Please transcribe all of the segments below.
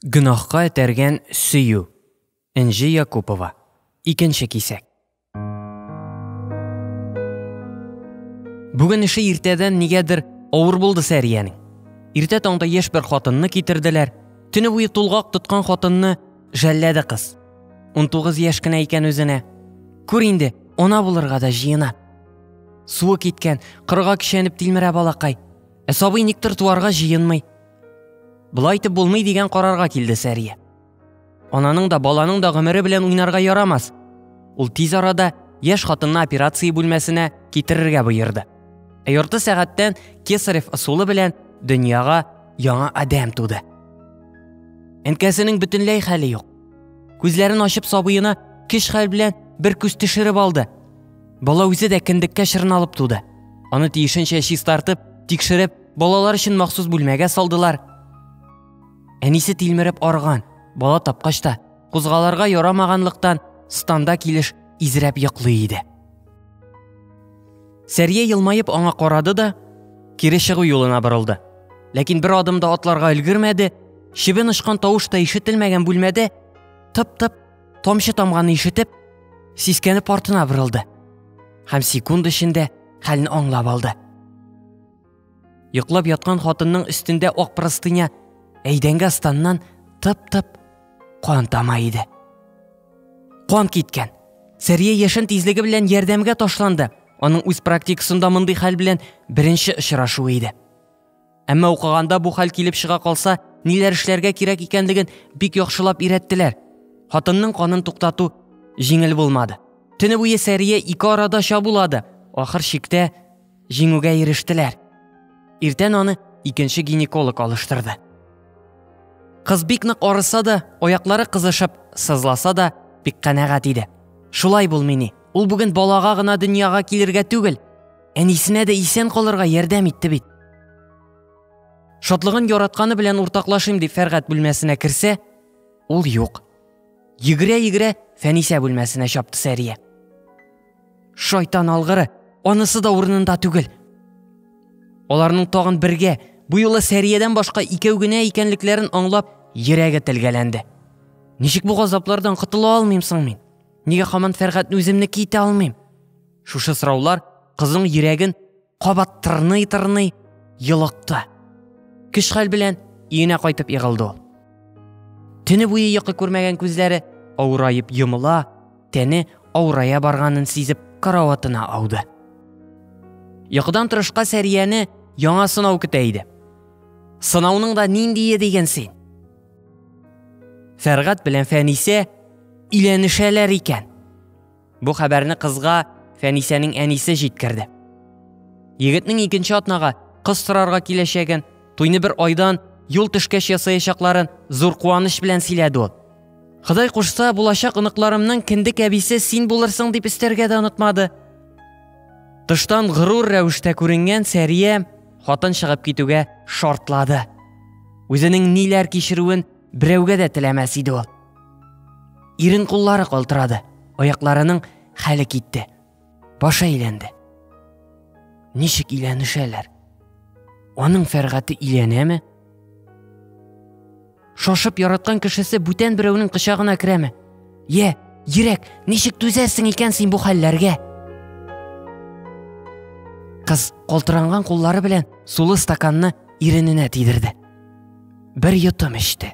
Гөнаһка этәргән сөю. Энҗе Якупова. Икенче кисәк. Бүген эше иртәдән нигәдер авыр булды Сәриянең. Иртә таңда яшь бер хатынны китерделәр. Төне буе тулгак тоткан хатынны жәлләде кыз. 19 яшь кенә икән үзенә. Күр инде, ана булырга да җыена. Суы киткән, кырга кичәнеп тилмерә балакай. Ә сабый никтер туарга җыенмый. Болай итеп булмый дигән карарга килде Сәрия. Ананың да, баланың да гомере белән уйнарга ярамас. Ул тиз арада яшь хатынны операция бүлмәсенә китерергә боерды. Ә ярты сәгатьтән Кесарев ысулы белән дөньяга яңа адәм туды. Әнкәсенең бөтенләй хәле юк. Күзләрен ачып сабыена кеш хәл белән бер күз төшереп алды. Бала үзе дә кендеккә чырналып туды. Аны тиешенчә чистартып, тикшереп, Балалар өчен махсус бүлмәгә салдылар. Әнисе тилмереп арган, бала тапкач та, кузгаларга ярамаганлыктан, станда килеш изрәп йоклый иде. Сәрия елмаеп аңа карады да, кире чыгу юлына борылды. Ләкин бер адым да атларга өлгермәде, чебен очкан тавыш та ишетелмәгән бүлмәдә тып-тып тамчы тамганы ишетеп, сискәнеп артына борылды һәм секунд эчендә хәлне аңлап алды. Йоклап яткан хатынның өстендә ак простыня әйдәнгә станнан тып-тып кан тама иде. Кан киткән. Сәрия яшен тизлеге белән ярдәмгә ташланды. Аның үз практикасында мондый хәл белән беренче очрашу иде. Әмма укыганда бу хәл килеп чыга калса, ниләр эшләргә кирәк икәнлеген бик яхшылап өйрәттеләр. Хатынның канын туктату җиңел булмады. Төне буе Сәрия ике арада чабулады. Ахыр чиктә Җиңүгә ирештеләр. Иртән аны икенче гинеколог алыштырды. Кыз бик нык арыса да, аяклары кызышып, сызласа да, бик канәгать иде. Шулай булмый ни. Ул бүген балага гына дөньяга килергә түгел, әнисенә дә исән калырга ярдәм итте бит. Шатлыгын яратканы белән уртаклашыйм дип Фәргать бүлмәсенә керсә, ул юк. Йөгерә-йөгерә Фәнисә бүлмәсенә чапты Сәрия. Шайтан алгыры, анысы да урынында түгел. Аларның тагын бергә, бу юлы Сәриядән башка икәү генә икәнлекләрен аңлап, йөрәге телгәләнде. Ничек бу газаплардан котыла алмыйм соң мин? Нигә хаман Фәргатьне үземне китә алмыйм? Шушы сораулар кызның йөрәген кабат тырный-тырный йолыкты. Көч хәл белән өенә кайтып егылды ул. Төне буе йокы күрмәгән күзләре авыраеп йомыла, тәне авырая барганын сизеп караватына ауды. Йокыдан торышка Сәрияне яңа сынау көтә иде. Сынауның да ниндие дигән син? Фәргат белән Фәнисә иләнешәләр икән. Бу хәбәрне кызга Фәнисәнең әнисе җиткерде. Егетнең икенче атнага кыз сорарга киләчәген, туйны бер айдан юл төшкәч ясаячакларын зур куаныч белән сөйләде ул. Ходай кушса, булачак оныкларымның кендек әбисе син булырсың дип өстәргә дә онытмады. Тыштан горур рәвештә күренгән Сәрия хатын чыгып китүгә шартлады. Үзенең ниләр кичерүен берәүгә дә теләмәс иде ул. Ирен куллары калтырады, аякларының хәле китте. Башы әйләнде. Ничек иләнешәләр? Аның фәргате иләнәме? Шашып яраткан кешесе бүтән берәүнең кочагына керәме? Йә, йөрәк, ничек түзәсең икән син бу хәлләргә? Кыз калтыранган куллары белән сулы стаканны ирененә тидерде. Бер йотым эчте.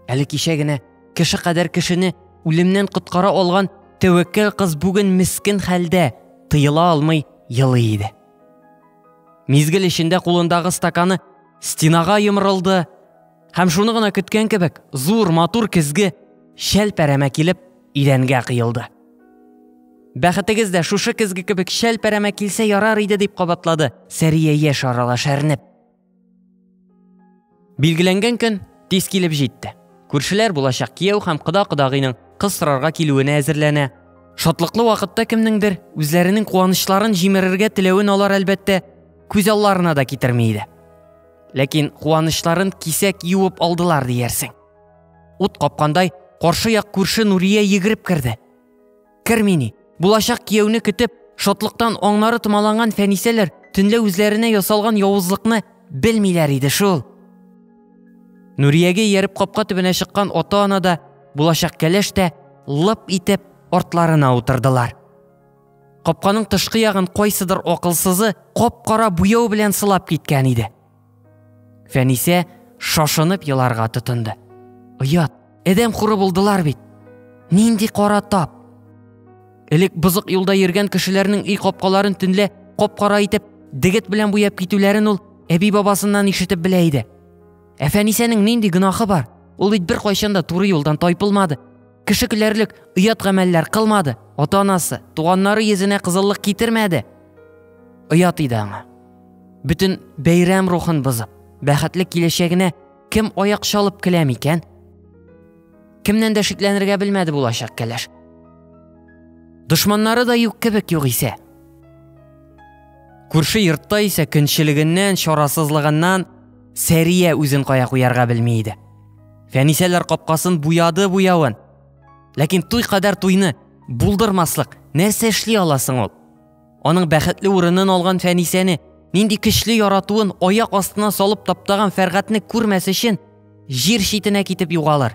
Әле кичә генә кеше кадәр кешене үлемнән коткара алган тәвәккәл кыз бүген мискен хәлдә, тыела алмый елый иде. Мизгел эчендә кулындагы стаканы стенага йомрылды, һәм шуны гына көткән кебек, зур матур көзге шәл пәрәмә килеп идәнгә кыелды. Бәхетегез дә шушы көзге кебек шәл пәрәмә килсә ярар иде дип кабатлады Сәрия яшь арала шәрнеп. Билгеләнгән көн тиз килеп җитте. Күршеләр булачак кияү һәм кода-кодагыйның кыз сорарга килүенә әзерләнә. Шатлыклы вакытта кемнеңдер үзләренең куанычларын җимерергә теләвен алар әлбәттә күз алларына да китерми иде. Ләкин куанычларын кисәк юып алдылар диярсең. Ут капкандай каршы як күрше Нурия йөгереп керде. Кермини. Булачак кияүне көтеп, шатлыктан аңнары томаланган фәнисәләр төнлә үзләренә ясалган явызлыкны белмиләр иде шул. Нуриягә ияреп капка төбенә чыккан ата-ана да, булачак кәләш тә лып итеп артларына утырдылар. Капканың тышкы ягын кайсыдыр акылсызы кап-кара буяу белән сылап киткән иде. Фәнисә шашынып еларга тотынды. Оят, әдәм хуры булдылар бит. Нинди кара тап. Элек бызык юлда йөргән кешеләрнең өй капкаларын төнлә кап-кара итеп дегет белән буяп китүләрен ул әби бабасыннан ишетеп белә иде. Ә Фәнисәнең нинди гөнаһы бар? Ул бит бер кайчан да туры юлдан тайпылмады. Кеше көләрлек оят гамәлләр кылмады. Ата-анасы, туганнары йөзенә кызыллык китермәде. Оят иде аңа. Бөтен бәйрәм рухын бозып, бәхетле киләчәгенә кем аяк чалып килә микән? Кемнән дә шикләнергә белмәде булачак кәләш. Дошманнары да юк кебек юк исә. Күрше йортта исә көнчелегеннән, чарасызлыгыннан Сәрия үзен кая куярга белми иде. Фәнисәләр капкасын буяды буявын. Ләкин туй кадәр туйны булдырмаслык нәрсә эшли аласың ул? Аның бәхетле урынын алган Фәнисәне, нинди көчле яратуын аяк астына салып таптаган Фәргатне күрмәс өчен җир читенә китеп югалыр.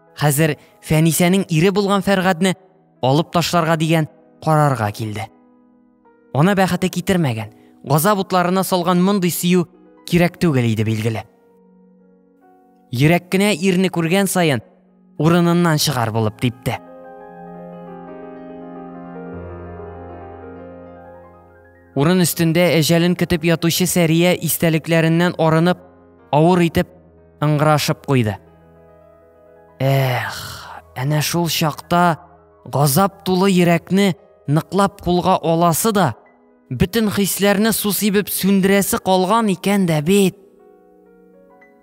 Хәзер Фәнисәнең ире булган Фәргадне алып ташларга дигән карарга килде. Ана бәхете китермәгән, газап утларына салган мондый сөю кирәк түгел иде билгеле. Йөрәк кенә ирне күргән саен урыныннан чыгар булып типте. Урын өстендә әҗәлен көтеп ятучы Сәрия истәлекләреннән арынып, авыр итеп ыңгырашып куйды. Эх, әнә шул чакта газап тулы йөрәкне ныклап кулга аласы да, бөтен хисләрне су сибеп сүндерәсе калган икән дә бит.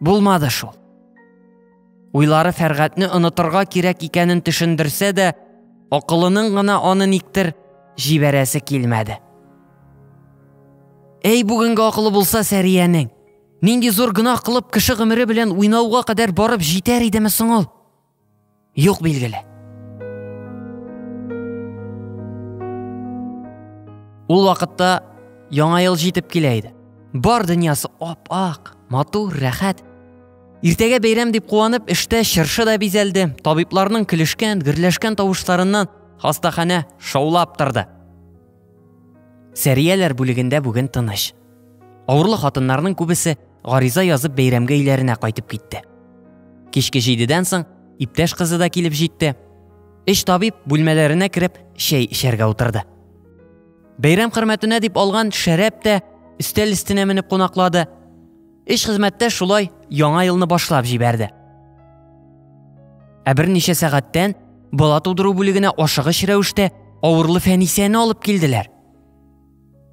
Булмады шул. Уйлары Фәргатьне онытырга кирәк икәнен төшендерсә дә, акылының гына аны никтер җибәрәсе килмәде. Әй бүгенге акылы булса Сәриянең, Нинди зур гөнаһ кылып кеше гомере белән уйнауга кадәр барып җитәр идеме соң ул? Юк билгеле. Ул вакытта яңа ел җитеп килә иде. Бар дөньясы ап-ак, матур, рәхәт. Иртәгә бәйрәм дип куанып, эштә чыршы да бизәлде. Табибларның көлешкән, гөрләшкән тавышларыннан хастаханә шаулап торды. Сәрияләр бүлегендә бүген тыныч. Авырлы хатыннарның күбесе гариза язып бәйрәмгә өйләренә кайтып китте. Кичке җидедән соң иптәш кызы да килеп җитте. Эш табиб бүлмәләренә кереп чәй эчәргә утырды. Бәйрәм хөрмәтенә дип алган шәрәп тә өстәл өстенә менеп кунаклады. Эш хезмәттә шулай яңа елны башлап җибәрде. Ә берничә сәгатьтән бала тудыру бүлегенә ашыгыч рәвештә авырлы Фәнисәне алып килделәр.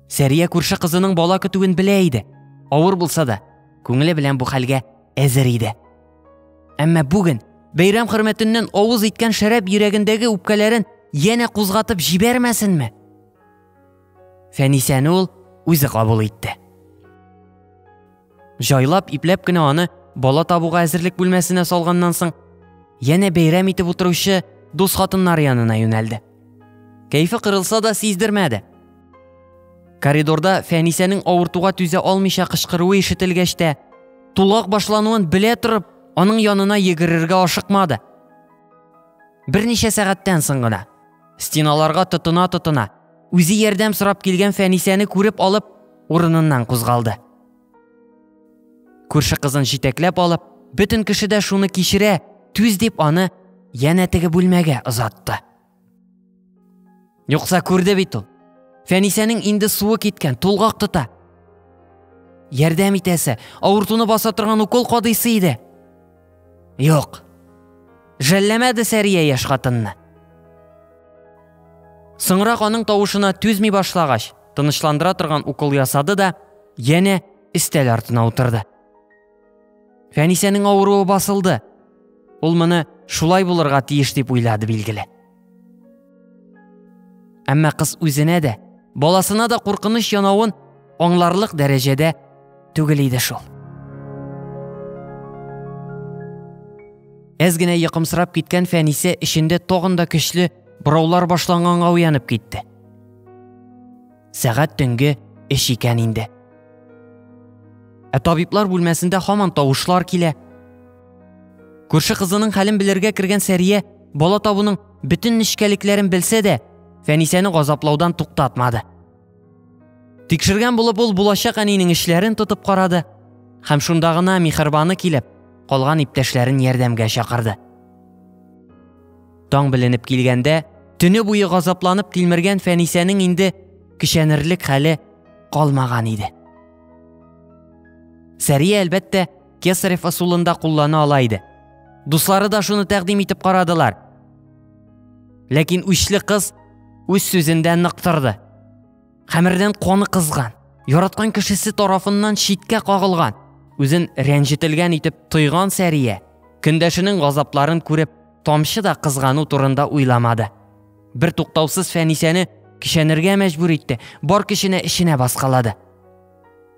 Сәрия күрше кызының бала көтүен белә иде. Авыр булса да, күңеле белән бу хәлгә әзер иде. Әмма бүген бәйрәм хөрмәтеннән авыз иткән шәраб йөрәгендәге үпкәләрен янә кузгатып җибәрмәсенме? Фәнисәне ул үзе кабул итте. Җайлап, ипләп кенә аны бала табуга әзерлек бүлмәсенә салганнан соң, янә бәйрәм итеп утыручы дус хатыннар янына юнәлде. Кәйфе кырылса да сиздермәде. Коридорда Фәнисәнең авыртуга түзә алмыйча кычкыруы ишетелгәч тә, тулак башлануын белә торып, аның янына йөгерергә ашыкмады. Берничә сәгатьтән соң гына Стеналарга тотына-тотына, үзе ярдәм сорап килгән Фәнисәне күреп алып, урыныннан кузгалды. Күрше кызын җитәкләп алып, бөтен кеше дә шуны кичерә, түз дип аны янә теге бүлмәгә озатты. Юкса күрде бит ул. Фәнисәнең инде суы киткән, тулгак тота. Ярдәм итәсе, авыртуны баса торган укол кадыйсы иде. Юк. Жәлләмәде Сәрия яшь хатынны. Соңрак аның тавышына түзми башлагач, тынычландыра торган укол ясады да, яне истәл артына утырды. Фәнисәнең авыруы басылды. Ул моны шулай булырга тиеш дип уйлады билгеле. Әмма кыз үзенә дә, баласына да куркыныч янавын аңларлык дәрәҗәдә түгел иде шул. Әз генә йокымсырап киткән Фәнисә эчендә тагын да көчле бораулар башланганга уянып китте. Сәгать төнге эш икән инде. Ә табиблар бүлмәсендә һаман тавышлар килә. Күрше кызының хәлен белергә кергән Сәрия Бала табуның бөтен нечкәлекләрен белсә дә, Фәнисәне газаплаудан туктатмады. Тикшергән булып ул булачак әнинең эшләрен тотып карады һәм шунда гына михырбаны килеп, калган иптәшләрен ярдәмгә чакырды. Таң беленеп килгәндә, төне буе газапланып тилмергән Фәнисәнең инде кичәнерлек хәле калмаган иде. Сәрия әлбәттә Кесарев ысулында куллана ала иде. Дуслары да шуны тәкъдим итеп карадылар. Ләкин үчле кыз үз сүзендә нык торды. Хәмердән каны кызган, яраткан кешесе тарафыннан читкә кагылган, үзен рәнҗетелгән итеп тойган Сәрия, көндәшенең газапларын күреп, тамчы да кызгану турында уйламады. Бер туктаусыз Фәнисәне кишәнергә мәҗбүр итте, бар көченә эченә баскалады.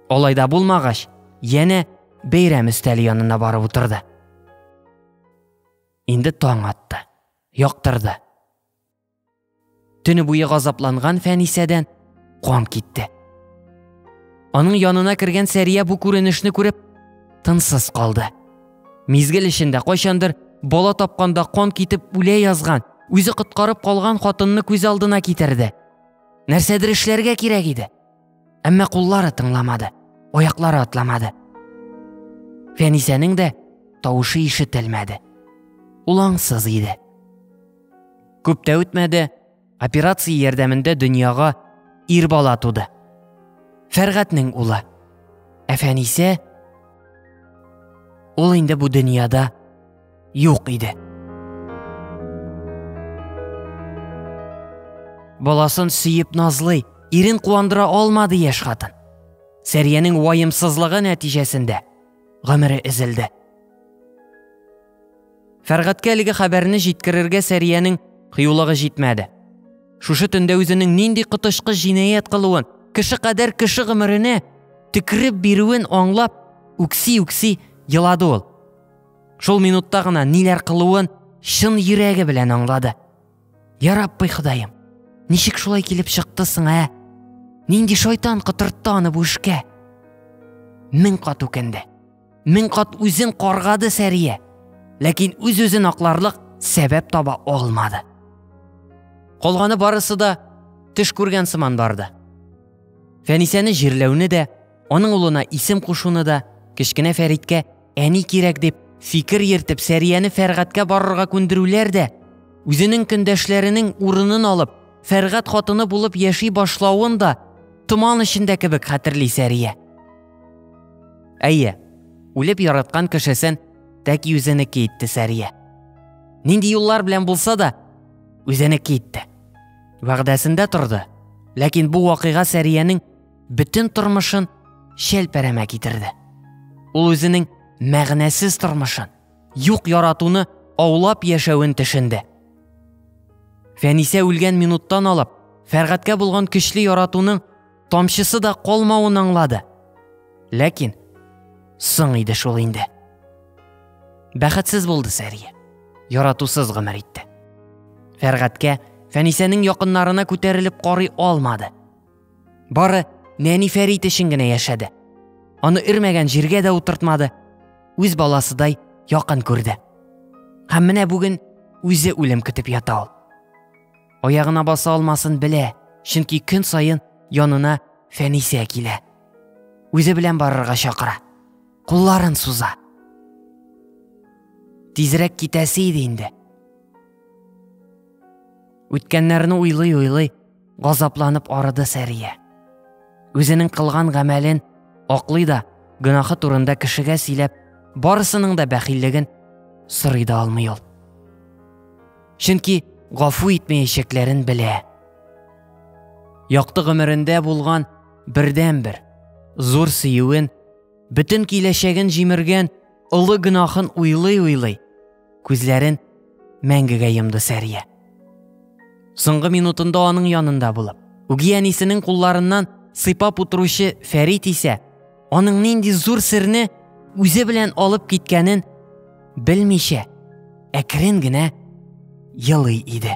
Алай да булмагач, янә бәйрәм өстәле янына барып утырды. Инде таң атты, яктырды. Төне буе газапланган Фәнисәдән кан китте. Аның янына кергән Сәрия бу күренешне күреп, тынсыз калды. Мизгел эчендә кайчандыр бала тапканда кан китеп үлә язган, үзе коткарып калган хатынны күз алдына китерде. Нәрсәдер эшләргә кирәк иде. Әмма куллары тыңламады, аяклары атламады. Фәнисәнең дә тавышы ишетелмәде. Ул аңсыз иде. Күп тә үтмәде, операция ярдәмендә дөньяга ир бала туды. Фәргатнең улы. Ә Фәнисә ул инде бу дөньяда юк иде. Баласын сөеп назлый, ирен куандыра алмады яшь хатын. Сәриянең вайымсызлыгы нәтиҗәсендә гомере эзелде. Фәргатькә әлеге хәбәрне җиткерергә Сәриянең кыюлыгы җитмәде. Шушы төндә үзенең нинди котышкы җинаять кылуын, кеше кадәр кеше гомеренә текреп бирүен аңлап, үкси-үкси елады ул. Шул минутта гына ниләр кылуын чын йөрәге белән аңлады. Я Раббый Ходаем, ничек шулай килеп чыкты соң, ә? Нинди шайтан котыртты аны бу эшкә? Мең кат үкенде. Мең кат үзен каргады Сәрия. Ләкин үз-үзен акларлык сәбәп таба алмады. Калганы барысы да төш күргән сыман барды. Фәнисәне җирләүне дә, аның улына исем кушуны да кечкенә Фәриткә әни кирәк дип фикер йөртеп Сәрияне Фәргатькә барырга күндерүләр дә, үзенең көндәшләренең урынын алып, Фәргат хатыны булып яши башлавын да томан эчендә кебек хәтерли Сәрия. Әйе, үлеп яраткан кешесен тәки үзенеке итте Сәрия. Нинди юллар белән булса да, үзенеке итте. Вәгъдәсендә торды. Ләкин бу вакыйга Сәриянең бөтен тормышын шәлпәрәмә китерде. Ул үзенең мәгънәсез тормышын, юк яратуны аулап яшәвен төшенде. Фәнисә үлгән минуттан алып, Фәргатькә булган көчле яратуның тамчысы да калмавын аңлады. Ләкин соң иде шул инде. Бәхетсез булды Сәрия. Яратусыз гомер итте. Фәргатькә Фәнисәнең якыннарына күтәрелеп карый алмады. Бары нәни Фәрит өчен генә яшәде. Аны өрмәгән җиргә дә утыртмады, үз баласыдай якын күрде. Һәм менә бүген үзе үлем көтеп ята ул. Аягына баса алмасын белә, чөнки көн саен янына Фәнисә килә. Үзе белән барырга чакыра. Кулларын суза. Тизрәк китәсе иде инде. Үткәннәрне уйлый-уйлый Газапланып арыды Сәрия. Үзенең кылган гамәлен аклый да, гөнаһы турында кешегә сөйләп, барысының да бәхиллеген сорый да алмый ул. Чөнки гафу итмәячәкләрен белә. Якты гомерендә булган бердәнбер зур сөюен, бөтен киләчәген җимергән олы гөнаһын уйлый-уйлый, Күзләрен мәңгегә йомды Сәрия. Соңгы минутында аның янында булып, үги әнисенең кулларыннан сыйпап утыручы Фәрит исә аның нинди зур серне үзе белән алып киткәнен белмичә, әкрен генә елый иде.